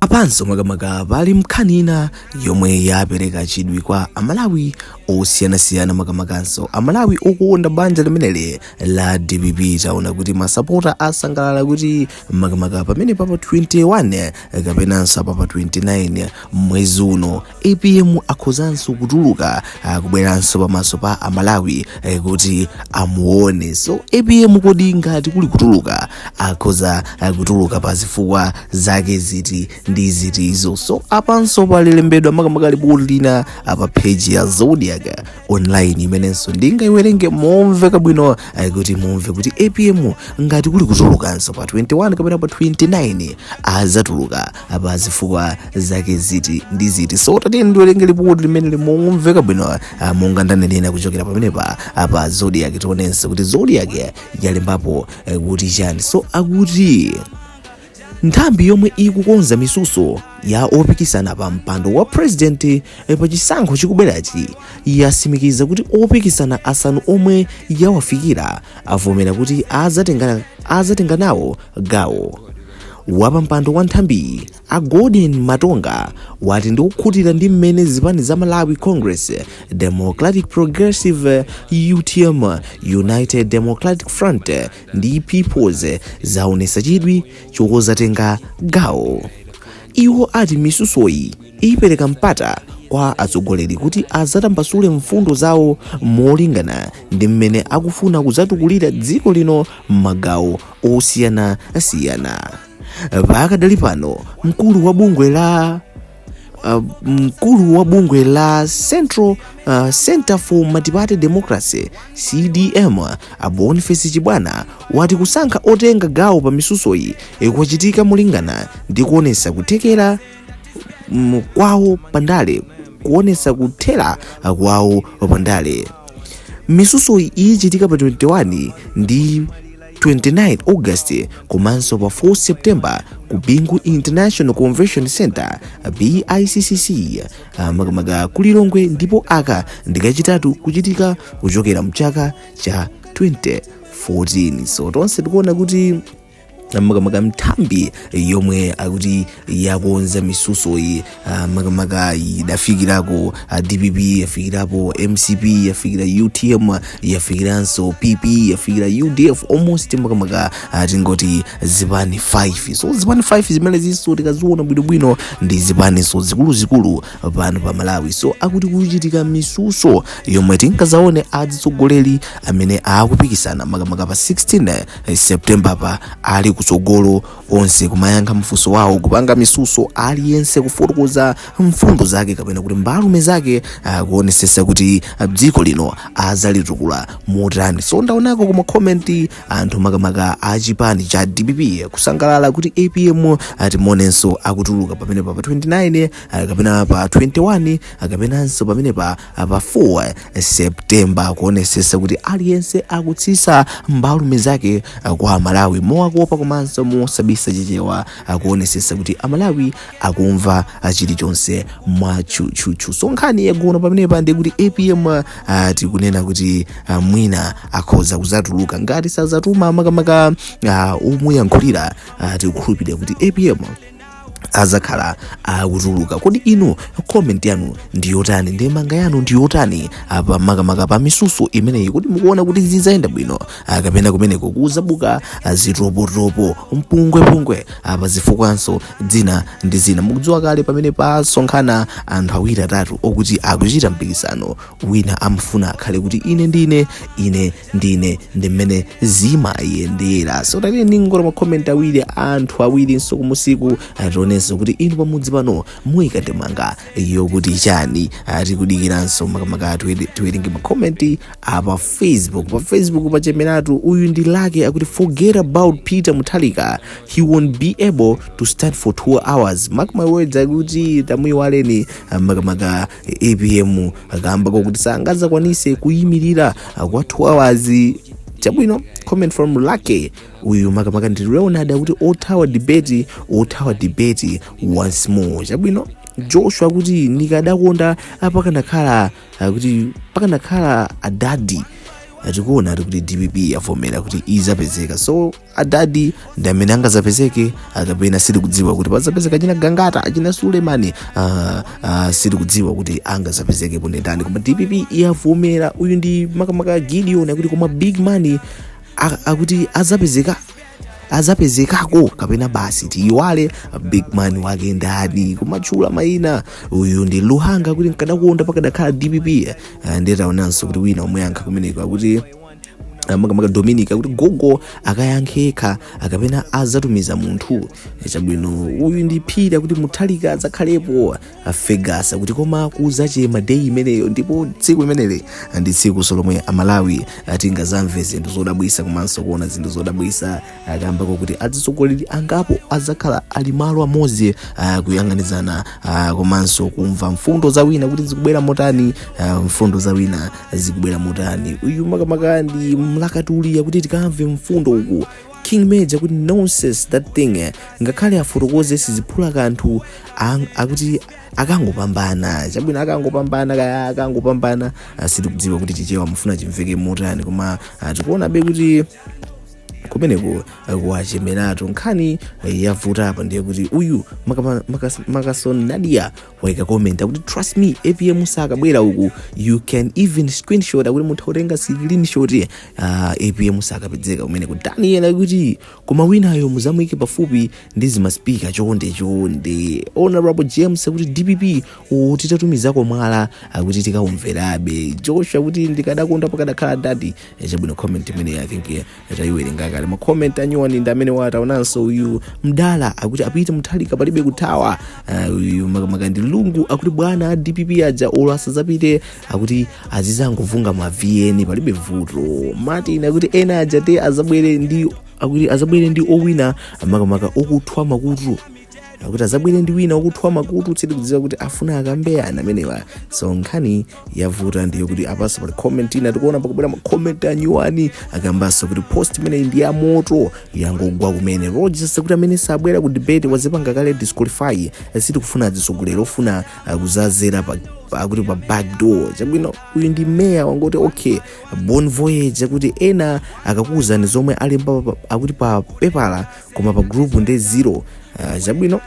apanso makamaka pali nkhani ina yomwe yapereka chidwi kwa amalawi osiyanasiyana makamakanso amalawi okukonda banja limeneli la dpp taona kuti masapota asangalala kuti makamaka pamene papa 21 kapenanso papa 29 mwezi uno apm akhozanso kutuluka ah, kubweranso pamaso pa amalawi eh, kuti amuone so apm kodi ngati kuli kutuluka akhoza ah, kutuluka pa zifukwa zake ziti ndi zitizo so apanso palilembedwa makamaka lipoti lina ah, pa page ya zodiac online imenenso ndingaiwerenge momveka bwino ah, kuti mumve kuti apm ngati kuli kutulukanso pa 21 kapena pa 29 azatuluka pa zifukwa zake ziti ndi ziti so tatiye ndiwerenge lipoti limeneli momveka bwino uh, monga ndanenera kuchokera pamenepa pa zodiac tionenso kuti zodiac yalembapo uh, kuti chani so akuti nthambi yomwe ikukonza misuso ya opikisana pa mpando wa president eh, pa chisankho chikubwerachi yasimikiza kuti opikisana asanu omwe yawafikira avomera kuti azatenga azatenga nawo gawo Wapampando wa nthambiyi a Golden Matonga wati ndi okhutira ndi mmene zipani za Malawi Congress, Democratic Progressive, utm, United Democratic Front ndi Peoples zaonesa chidwi chozatenga gawo. Iwo ati misusoyi ipereka mpata kwa atsogoleri kuti azatambasule mfundo zawo molingana ndi mmene akufuna kuzatukulira dziko lino m'magawo osiyana siyana pakadali pano mkulu wa bungwe la uh, mkulu wa bungwe la Central uh, Center for Multiparty Democracy CDM a Boniface Chibwana wati kusankha otenga gawo pa misusoyi kwachitika molingana ndi kuonesa kuthekera mm, kwawo pandale kuonesa kuthera kwawo pandale misusoyi ichitika pa 21 ndi 29 august komanso pa 4 september ku bingu international convention center biccc ah, makamaka ku lilongwe ndipo aka ndikachitatu kuchitika kuchokera mchaka cha 2014 so tonse tikuona kuti makamaka nthambi yomwe akuti yakonza misusoyi ah, makamaka idafikirako ah, dpp yafikirapo mcp yafikira utm yafikiranso pp yafikira udf almost makamaka ah, tingoti zipani 5 so zipani 5 zimenezinso tikaziona bwinobwino ndi zipaninso zikuluzikulu pano pa malawi so akuti kuchitika misuso yomwe tingazaone azitsogoleri amene akupikisana makamaka pa 16 september pa ali kutsogolo onse kumayankha mafunso wawo kupanga misuso aliyense kufotokoza mfundo zake kapena kuti mbalume zake ah, kuonesesa kuti ah, dziko lino azalitukula motani so ndaonako kuma comment anthu makamaka a chipani cha dpp kusangalala kuti apm atimonenso akutuluka pamene pa pa 29 ah, kapena pa 21 ah, kapenanso pamene pa pa 4 septemba kuonesesa kuti aliyense akutsisa mbalume zake ah, kwa amalawi mowakopa komanso mosabisa chichewa ah, kuonesesa kuti amalawi akumva ah, chilichonse mwa chuchuchu so nkhani yagona pamenepa ndi kuti apm ah, tikunena kuti ah, mwina akhoza kuzatuluka ngati sazatuma makamaka ah, omuyankhulira ah, tikukhulupirira kuti apm azakhala akutuluka kodi inu comment yanu ndi yotani ndemanga yanu ndi yotani apa makamaka pa misuso imeneyi kodi mukuona kuti zizayenda bwino kapena kumeneko kuzabuka zitopotopo mpungwepungwe apa zifukwanso zina ndi zina mukudziwa kale pamene pasonkhana anthu awiri atatu okuti akuchita mpikisano wina amafuna akhale kuti ine ndine ine ndine ndi mmene zimayendera so tatiyeni tingoona makomenti awiri anthu awirinso kumusiku tionenso kuti inu pamudzi pano muyika ndemanga yokuti chani tikudikiranso makamaka tiwere- tiwerenge makomenti apa facebook pa facebook pachemeratu uyu ndi lucky akuti forget about peter muthalika he won't be able to stand for two hours mark my words akuti tamuyiwaleni ah, makamaka apm akamba zokuti sangazakwanise kuyimirira kwa 2 hours chabwino comment from lucky uyu makamaka ndi leonard akuti othawa debate othawa debate once more chabwino joshua kuti ndikadakonda apakanakhala akuti pakanakhala adadi tikuona ati kuti dpp yavomera kuti izapezeka so adadi ndi amene angazapezeke kapena sitikudziwa kuti pazapezeka achina gangata achina sulemani uh, uh, sitikudziwa kuti angazapezeke po ndi ndani koma dpp yavomera uyu ndi makamaka gideon akuti koma big man a- akuti azapezeka azapezekako kapena basi tiyiwale big man wake ndani kumatchula mayina uyu ndi luhanga akuti nkadakonda pakadakhala dpp Eh, nditaonanso kuti wina wakomenta kumeneko akuti Ah, makamaka dominic akuti gogo akayankhe yekha kapena azatumiza munthu Eh, chabwino uyu ndi phiri akuti muthalika adzakhalepo fergus akuti koma kuzachema day imeneyo ndipo tsiku limeneli ndi tsiku lomwe amalawi tingazamve zinthu zodabwisa komanso kuona zinthu zodabwisa akambako kuti atsogoleri angapo adzakhala ali malo amodzi ah, kuyang'anizana ah, komanso kumva mfundo za wina kuti zikubwera motani ah, mfundo za wina zikubwera motani uyu makamaka ndi mlakatuli akuti tikamve mfundo uku king major kuti nonsense that thing eh, ngakhale afotokoze siziphula kanthu ang- akuti akangopambana chabwino akangopambana kaya akangopambana ah, sitikudziwa kuti chichewa mufuna chimveke motani koma ah, tikuonabe kuti kumeneko kuwachemeratu nkhani yavuta apa ndiye kuti uyu makama- makas- makason nadia waika comment akuti trust me apm sakabwera uku you can even screenshot akuti mutha kutenga screenshot uh, apm sakapezeka kumeneku daniel akuti koma winayo muzamuike pafupi ndi zimaspika chonde chonde honorable james akuti dpp mutitumizireko mwala akuti tikaumverabe joshua akuti ndikadakonda pakadakhala dadi chabwino comment imene i think eh, tayiwerenga kale ma comment anyuwani ndi amene wataonanso uyu mdala akuti apite mutharika palibe kuthawa Eh, uyu makamaka ndi lungu akuti bwana a dpp aja olo asadzapite akuti azizangovulunga ma vn palibe vuto martin akuti ena aja te azabwere ndi akuti azabwere ndi owina makamaka okuthwa makutu akuti azabwere ndi wina wakuthwa makutu sitikudziwa kuti afuna akambe yani amenewa so nkhani yavuta ndiyo kuti apanso pali comment ina tikuona pakubwera makoment anyuwani akambanso kuti post imeneyi ndi ya moto yangogwa kumene rogers kuti amene sabwera ku debate wazipanga kale disqualify sitikufuna atsogoleri ofuna kudzadzera pa akuti pa backdoor chabwino uyu ndi meya wangoti okay bon voyage akuti ena akakuwuzani zomwe alemba pa- akuti pa pepala koma pa group nde zero uh, chabwino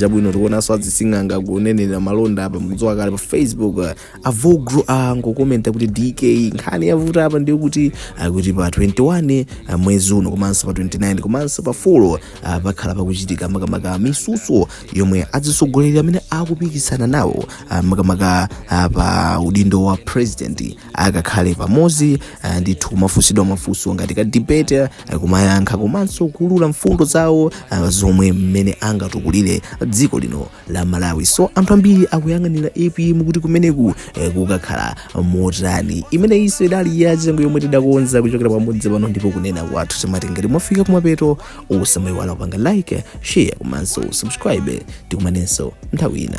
chabwino tikuonanso azising'anga kunenera malonda apa mudziwa kale pa facebook uh, avogro angokomenta kuti dk nkhani yavuta apa ndi yakuti uh, kuti pa 21 uh, mwezi uno komanso pa 29 komanso pa 4 uh, pakhala pakuchitika makamaka mitsutso yomwe azitsogoleri amene akupikisana nawo uh, makamaka uh, pa udindo wa president akakhale pamodzi eh, ndithu kumafunsidwa mafunso ngati ka debate eh, kumayankha komanso kuulula mfundo zawo eh, zomwe mmene angatukulire dziko lino la malawi so anthu ambiri akuyang'anira apm kuti kumeneku eh, kukakhala motani imeneyi nso idali yachisanu yomwe tidakonza kuchokera pamodzi pano ndipo kunena kwathu timati ngati mwafika kumapeto osamayiwala kupanga like share komanso subscribe tikumanenso nthawi ina